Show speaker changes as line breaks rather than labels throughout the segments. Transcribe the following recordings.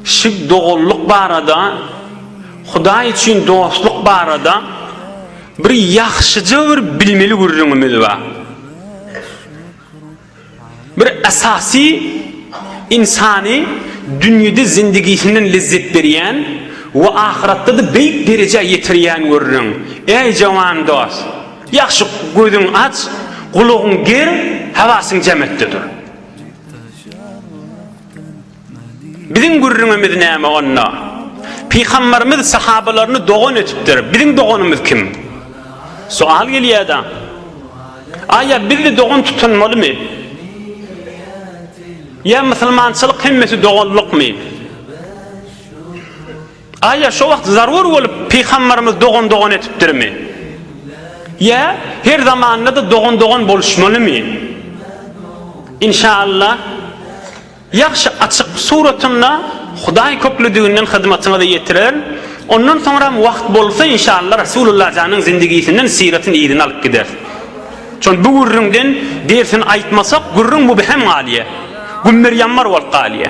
Şig doganlyk barada, Hudaý üçin dostluk barada bir ýagşyja bir bilmeli gürrüňimiz bar. Bir esasy ynsany dünýede zindigisinden lezzet berýän we ahyratda-da beýik derejä ýetirýän gürrüň, Äý jawan dost, ýagşy gözüň aç, gulagyň ger, hawasyň jämetde dur. Biziň gürrüňimiz näme onda? Pygamberimiz sahabalaryny dogan edipdir. Biziň doganymyz kim? Sual gelýär-de. Aýa biz-de dogan tutunmalymy? Ýa musulmançylyk hemmesi doganlykmy? Aýa şo wagt zarur bolup Pygambarymyz dogan dogan etipdirmi? Ýa her zamandada dogan dogan boluşmalymy? Inşaallah ýagşy açyk suratynda Hudaý köklüdiginden hyzmatyňyza ýetirer. Ondan soňram wagt bolsa inşaallah Rasulullah janyň zindigisinden syratyn yzyny alyp gideris. Şon bu gürrüňden dersini aýtmasak gürrüň mübhem galýa. Gümmer ýammar bolup galýa.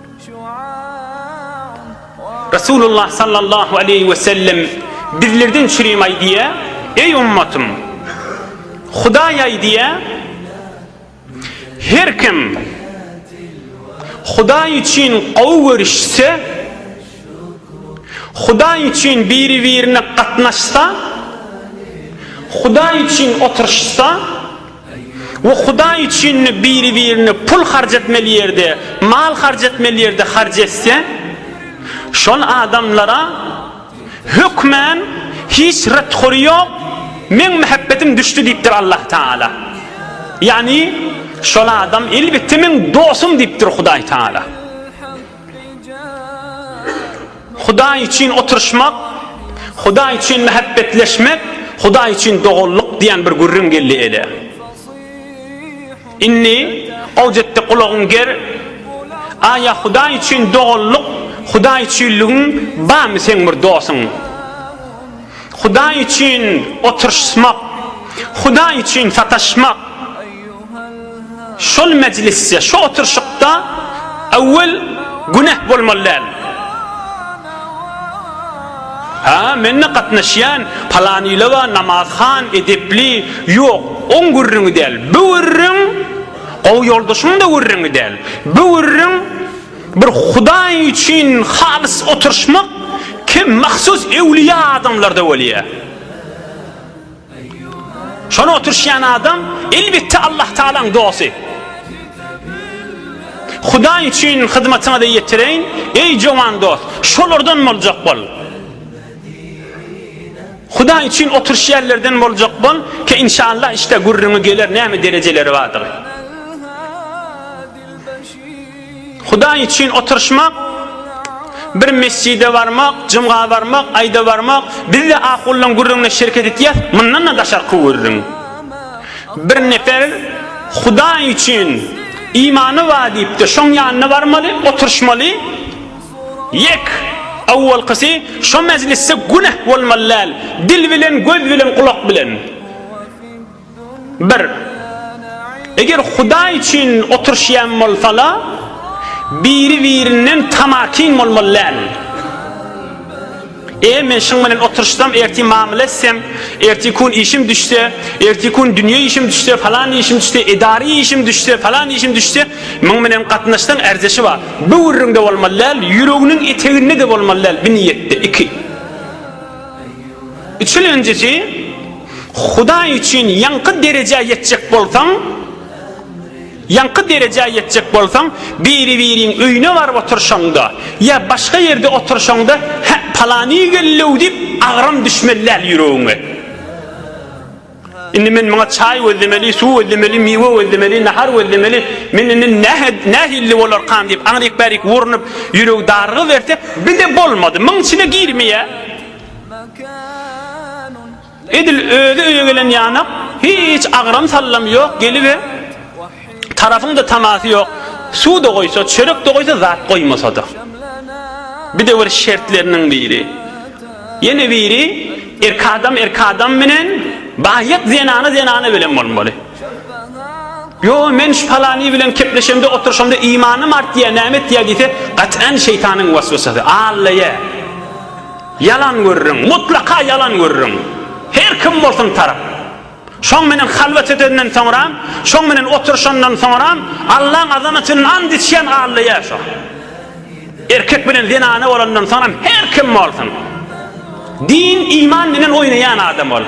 Resulullah sallallahu aleýhi we sellem bizlerden çürim aýdýa, Eý ummatym! Hudaý aýdýa, Her kim Hudaý üçin gowy görüşse, Hudaý üçin biri-birine gatnaşsa, Hudaý üçin oturyşsa, We Hudaý üçinli biri-birine pul harç etmeli ýerde, mal harç etmeli ýerde harç etse, şol adamlara hökmän hiç ret-hory ýok, Meň mähebbetim düşdi diýipdir Allah Tagala. Ýagny, şol adam elbetde meň dostum diýipdir Hudaý Tagala. Hudaý üçin oturyşmak, Hudaý üçin mähäbbetleşmek, Hudaý üçin doganlyk diýen bir gürrüň geldi ele. Indi Awjetde gulagyň ger, Aýa Hudaý üçin doganlyk, Hudaý üçinligiň barmy seň bir dosuň? Hudaý üçin oturyşmak, Hudaý üçin sataşmak. Şol mejlisde, şu oturyşykda awwel güneh bolmaly däl. Ha, menne gatnaşýan palanylawa namazhan, edepli, ýok, oň gürrüňi däl. Bu gürrüň gowy ýoldaşyň-da gürrüňi däl. Bu gürrüň Bir Hudaý üçin halys oturyşmak kem mahsus ewliýa adamlarda bolýar. Şony oturyşýan adam elbetde Allah Taalaň dosty. Hudaý üçin hyzmatyňyzy ýetireýin, eý jowan dost, şolardan boljak bol. Hudaý üçin oturyşýanlardan boljak bol, ki inşallah işte gürrüňi geler näme derejeleri bardygy. Hudaý üçin oturyşmak, bir mesjide barmak, jumga barmak, aýda barmak, bizde ahullaň gürrüňine şereket etýäs, mundan-da daşarky gürrüň. Bir nefer Hudaý üçin imany bar diýipdir, şoň ýanyna barmaly, oturyşmaly. Ýek, awwalkysy şo mejlisde güneh bolmaly däl, dil bilen, göz bilen, gulak bilen. Bir. Eger Hudaý üçin oturyşýan bolsala, biri-birinden tamakin bolmaly däl. E, men şyň bilen oturyşsam, ertir mamyla etsem, ertir kun işim düşse, ertir kun dünýe işim düşse, falan işim düşse, edary işim düşse, falan işim düşse, myň bilen gatnaşsaň ärzeşi bar. Böwrüňde bolmaly däl, ýüreginiň eteginde-de bolmaly däl, bi niýetde. Iki. Üçülenjisi, Hudaý üçin ýaňky derejä ýetjek bolsaň, ýaňky derejä ýetjek bolsaň, biri-biriň öýüne baryp oturyşaňda ýa başga ýerde oturyşaňda, Hä, palany geldi-ow diýip, agram düşmeli däl ýüregiňe. Indi men muňa çaý gözlemeli, suw gözlemeli, miwe gözlemeli, nahar gözlemeli, men indi nähili bolarkam diýip, aňryk-bärik urnup, ýüregi darygyberte, bir-de bolmady, muň içine girmeýär. Edil özi öýe gelen ýanak, hiç agram-sallam ýok, gelibe, Tarapyňda tamasy ýok, Suw-da goýsa, çörek-de goýsa, zat goýmasa-da. Bidewür şertleriniň biri. Ýene biri, erk adam erk adam bilen, baýat zenana zenana bilen bolmaly. Ýo, men şu palany bilen kepleşemde, oturyşamda imanym artýar, näme etýär diýse, gat'an şeýtanyň waswasasy. Allaýa. Ýalan görürin, mutlaka ýalan görürin. Her kim bolsun tarap. Şoň menen halwat edenden soňram, şoň menen oturyşandan soňram, Allaň azamatyny and içýän Alla ýa şo. Erkek bilen zenana bolandan soňram her kim bolsun. Din, iman bilen oýnaýan adam ol.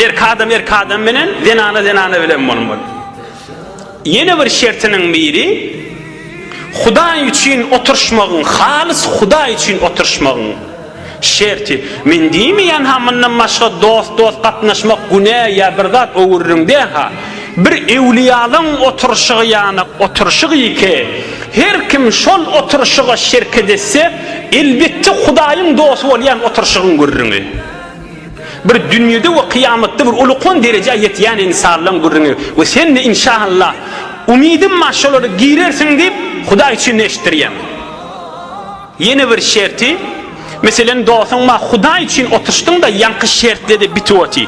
Erkek adam erkek adam bilen, zenana zenana bilen bolmaly. Ýene bir şertiniň biri, Hudaý üçin oturyşmagyň, halys Hudaý üçin oturyşmagyň şerti. Men diýmeýän-hä, mundan başga dost-dost gatnaşmak günä ýa bir zat öwüririň diýen-hä. Bir ewliýalaň oturyşygy ýaly oturyşyk ýeke. Her kim şol oturyşyga şerket etse, elbetde Hudaýyň dosty bolýan oturyşygyň gürrüňi. Bir dünýede we kyýamatda bir ulukan derejä ýetýän ynsanlaň gürrüňi we sen-de inşaallah umydym bar şolara girersiň diýip Hudaý üçin eşitdirýäň. Ýene bir şerti, meselem dostuň bar Hudaý üçin oturşdyň-da ýaňky şertde-de bitip oty.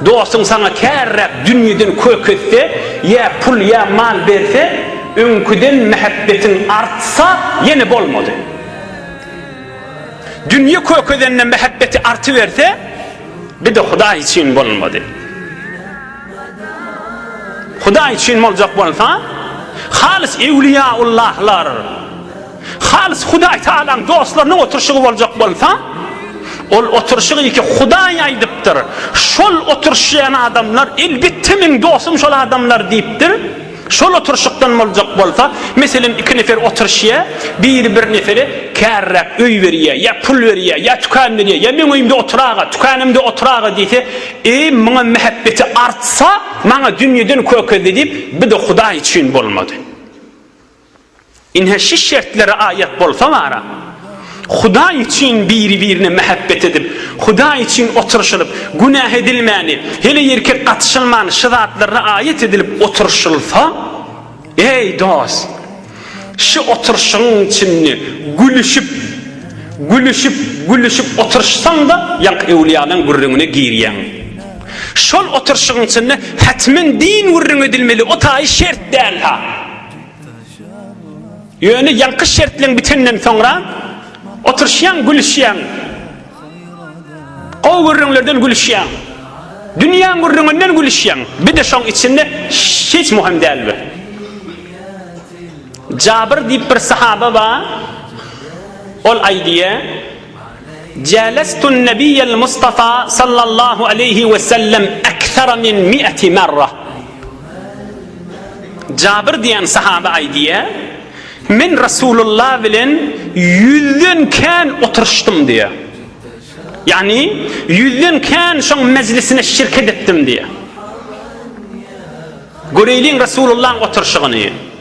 Dostuň saňa kärräk dünýeden kök etse, ýa pul ýa mal berse, öňküden mähebbetiň artsa ýene bolmady. Dünýe kökezende mähebbeti artyberse, bir-de Hudaý üçin bolmady. Hudaý üçin boljak bolsa, halys ewliýaullahlar, halys Hudaý Tagalaň dostlarynyň oturşygy boljak bolsa, ol oturşygy ki Hudaý aýdypdyr. Şol oturşýan adamlar elbetde meň dostum şol adamlar diýipdir. Şol oturşykdan boljak bolsa, meselem, iki nefer oturşýa, biri bir nefere kärräk öý berýä, ýa pul berýä, ýa tükän berýä, ýa meň öýümde otur-aga, tükänimde otur-aga diýse, eý, muňa mähebbeti artsa, maňa dünýeden kökezdi diýip, bir-de Hudaý üçin bolmady. Ine şu şertlere aýat bolsa bara, Hudaý üçin biri-birine mähebbet edip, Hudaý üçin oturyşylyp, günäh edilmäni, heleýerkek gatyşylmany şu zatlarda aýat edilip oturyşylsa, eý dost, şu oturyşygyň içinde gülüşip, gülüşip, gülüşip oturyşsaň-da ýank öwlüýalaň gürrüňine girýäň. Şol oturyşygyň içinde hätmen din gürrüň edilmeli, o taýy şert däl-hä. Ýöne ýaňky şertleň bitenden soňra oturyşýaň, gülüşýäň. Gowy gürrüňlerden gülüşýäň. Dünýäň gürrüňinden gülüşýäň. Bir-de şoň içinde hiç möhüm däl bir. Jabyr diýip bir sahaba bar. Ol aýdýar, Jälestun Nebiýel Mustafa sallallahu aleýhi we sellem ekser min mi'ati merra. Jabir diýen sahabe aýdýar, Men Resulullah bilen ýüzden kän oturyşdym diýär. Ýagny, ýüzden kän şoň mejlisine şirket etdim diýär. Göreýliň Resulullahyň oturyşygyny.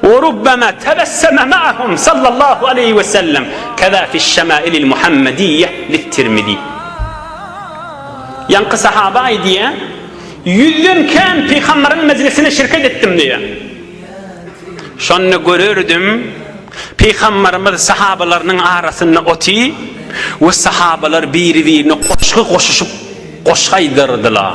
Wa rubbama tabassama ma'ahum sallallahu aleýhi we sellem, kaza fiş-şamailil Muhammediýýe lit-Tirmizi. Ýaňky sahaba aýdýar, Ýüzden kän pygamberiň mejlisine şirket etdim diýýär. Şonda görerdim, pygamberimiz sahabalarynyň arasynda oty we sahabalar biri-birine goşgy goşuşyp, goşgy aýdardylar.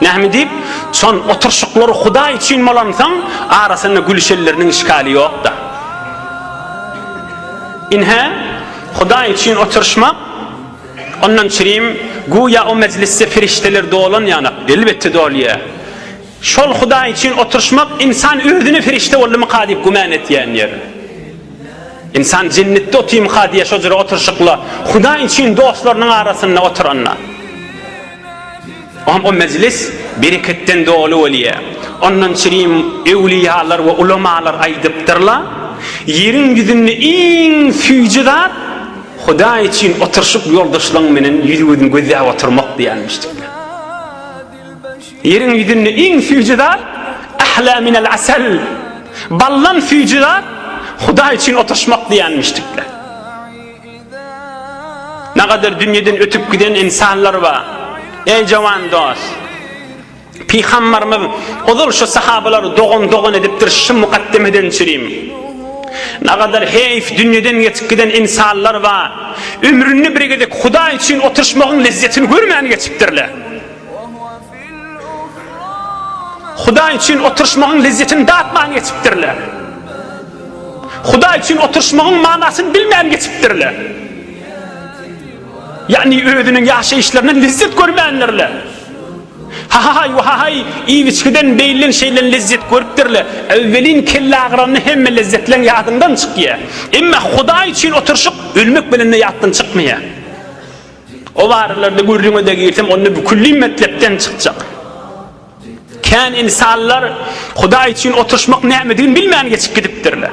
Näme diýip, şon oturşyklar Hudaý üçin bolansoň, arasynda gülüşenleriniň işgali ýok-da. Ynha, Hudaý üçin oturşmak, ondan çirim, güýä o mejlisde perişdeler dolan ýanak, elbetde dolýar. Şol Hudaý üçin oturşmak ynsan özüne perişde boldumyka diýip güman etýän ýeri. Ynsan jennetde otyrmyka diýýär şo jyry oturşykla Hudaý üçin dostlarynyň arasynda oturanda. Onda mejlis bereketden doly bolýar. Ondan çirim öwlüýalar we ulamalar aýdypdyrlar, Ýeriň ýüzünde iň süýji zat Hudaý üçin oturyşyp ýoldaşlaryň menen ýüz-gözmi gözläp oturmak diýýärmiş diýipdir. Ýeriň ýüzünde iň süýji zat Ahla minel asal, baldan süýji zat Hudaý üçin oturyşmak diýýärmiş diýipdir. Nagadyr dünýeden ötüp giden ynsanlar ba. Eý jowan dos. Pygambarymyz ozal şu sahabalary dogan dogan edipdir şu mukaddemeden çürim. Nagadyr heýf dünýeden geçip giden ynsanlar ba. Ömründe bir gezek hudaý üçin oturyşmagyň lezzetini görmän geçipdirle. Hudaý üçin oturyşmagyň lezzetini datman geçipdirler. Hudaý üçin oturyşmagyň manysyny bilmän geçipdirler. Ýagny özüniň ýaşaýyşlaryndan lezzet görmändirler. Hahaý, wahaý, iýgiçgiden beýlen şeýle lezzet görüpdirler. Öwwelin kellagyranny hemme lezzetleň ýadyňdan çykýar. Emma Hudaý üçin oturyşyk ölmek bilen-de ýatdan çykmaýar. O baralrda gürrüňe-de girsem, onda bu külli metlepden çykjak. Kän ynsanlar Hudaý üçin oturyşmak nämedigini bilmän geçip gidipdirler.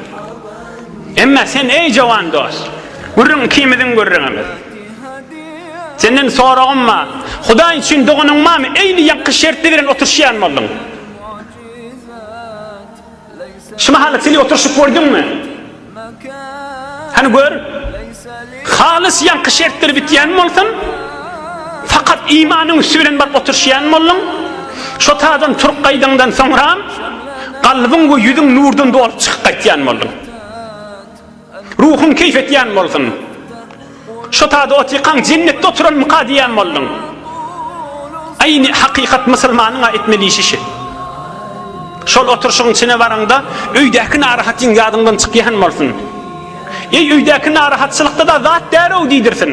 Emma sen, eý jowan dos, gürrüň ikimiziň gürrüňimiz. Senden soragym bar. Hudaý üçin doganyň barmy? Eýli ýaňky şertli bilen oturyşýan bolduň. Şu mahaly til oturyşyp gördüňmi? Hany gör. Halys ýaňky şertler bitýän bolsun, fakat imanyň üsti bilen baryp oturşýan bolduň. Şo tadan turup gaýdaňdan soňra, kalbyň we ýüzüň nurdan dolup çykyp gaýtýan bolduň. Ruhuň keýp etýän bolsun. Şo tada otykaň jennetde oturanmyka diýýän bolduň. Aýny hakykat musulmanyň-a etmeli işi şi. Şol oturşygyň içine baraňda öýdäki narahatyň ýadyňdan çykýan bolsun. Eý öýdäki narahatçylykda-da zat bärow diýdirsin.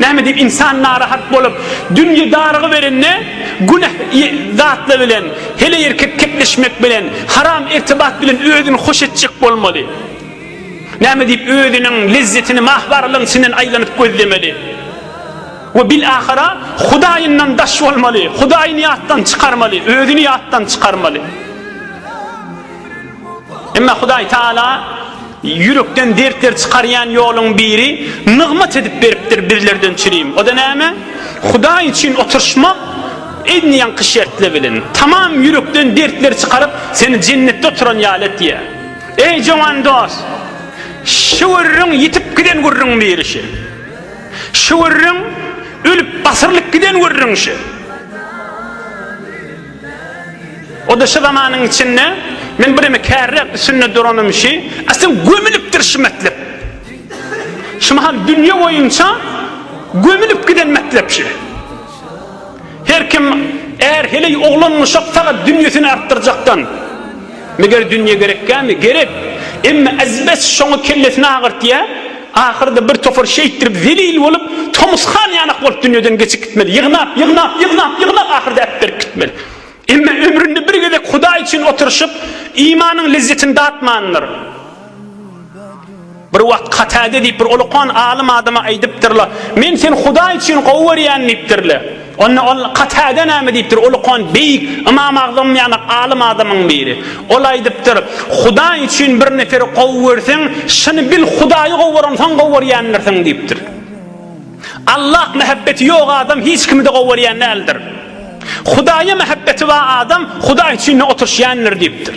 Näme diýip ynsan narahat bolup, dünýe darygyberende, günäh zatlar bilen, heleýerkek kepleşmek bilen, haram irtibat bilen özüni hoş etjek bolmaly? Näme diýip özüniň lezzetini mahbarlygyň içinden aýlanyp gözlemeli? We bilahara Hudaýyndan daş bolmaly, Hudaýyny ýatdan çykarmaly, özüni ýatdan çykarmaly? Emma Hudaý Taala ýürekden dertleri çykarýan ýoluň biri nygmat edip beripdir bizlerden çirim. O-da näme? Hudaý üçin oturyşmak edni ýaňky şertli bilen. Tamam ýürekden dertleri çykaryp, seni jennetde oturan ýaly etýär. Eý jowan dos! Şu gürrüň ýitip giden gürrüň biri şu. Şu gürrüň ölüp asyrlyp giden gürrüň şu. O-da şu zamanyň içinde, men bireme kärräk üstünde duranym şi, äsem gömülipdir şi metlep. Şu mahal dünýe boýunça gömülip giden metlep şi. Her kim, är, heleý, oglan, uşak sagat dünýesini artdyrjakdan. Meger dünýe gerekkämi? Gerek. Emma ezbes şoňa kellesini agyrtýar. Ahyrda bir topar şeýtdirip zelil bolup, tomus han ýanak bolup dünýeden geçip gitmeli. Ýygnap, ýygnap, ýygnap, ýygnap ahyrda äpberip gitmeli. Emma ömründe bir gezek Hudaý üçin oturyşyp, imanyň lezzetini datmandyr. Bir wagt Katada diýip bir ulukan alym adama aýdypdyrlar, Men seni Hudaý üçin gowy görýän diýipdirler. Onda ol Katade näme diýipdir? Ol okan beýik Ymam Agzam ýanak alym adamyň biri. Ol aýdypdyr, Hudaý üçin bir neperi gowy görseň, şuny bil, Hudaýy gowy görensoň gowy görýändirsiň diýipdir. Allah mähebbeti ýok adam hiç kimi-de gowy görýän däldir. Hudaýa mähebbeti bar adam Hudaý üçin-de oturyşýandyr diýipdir.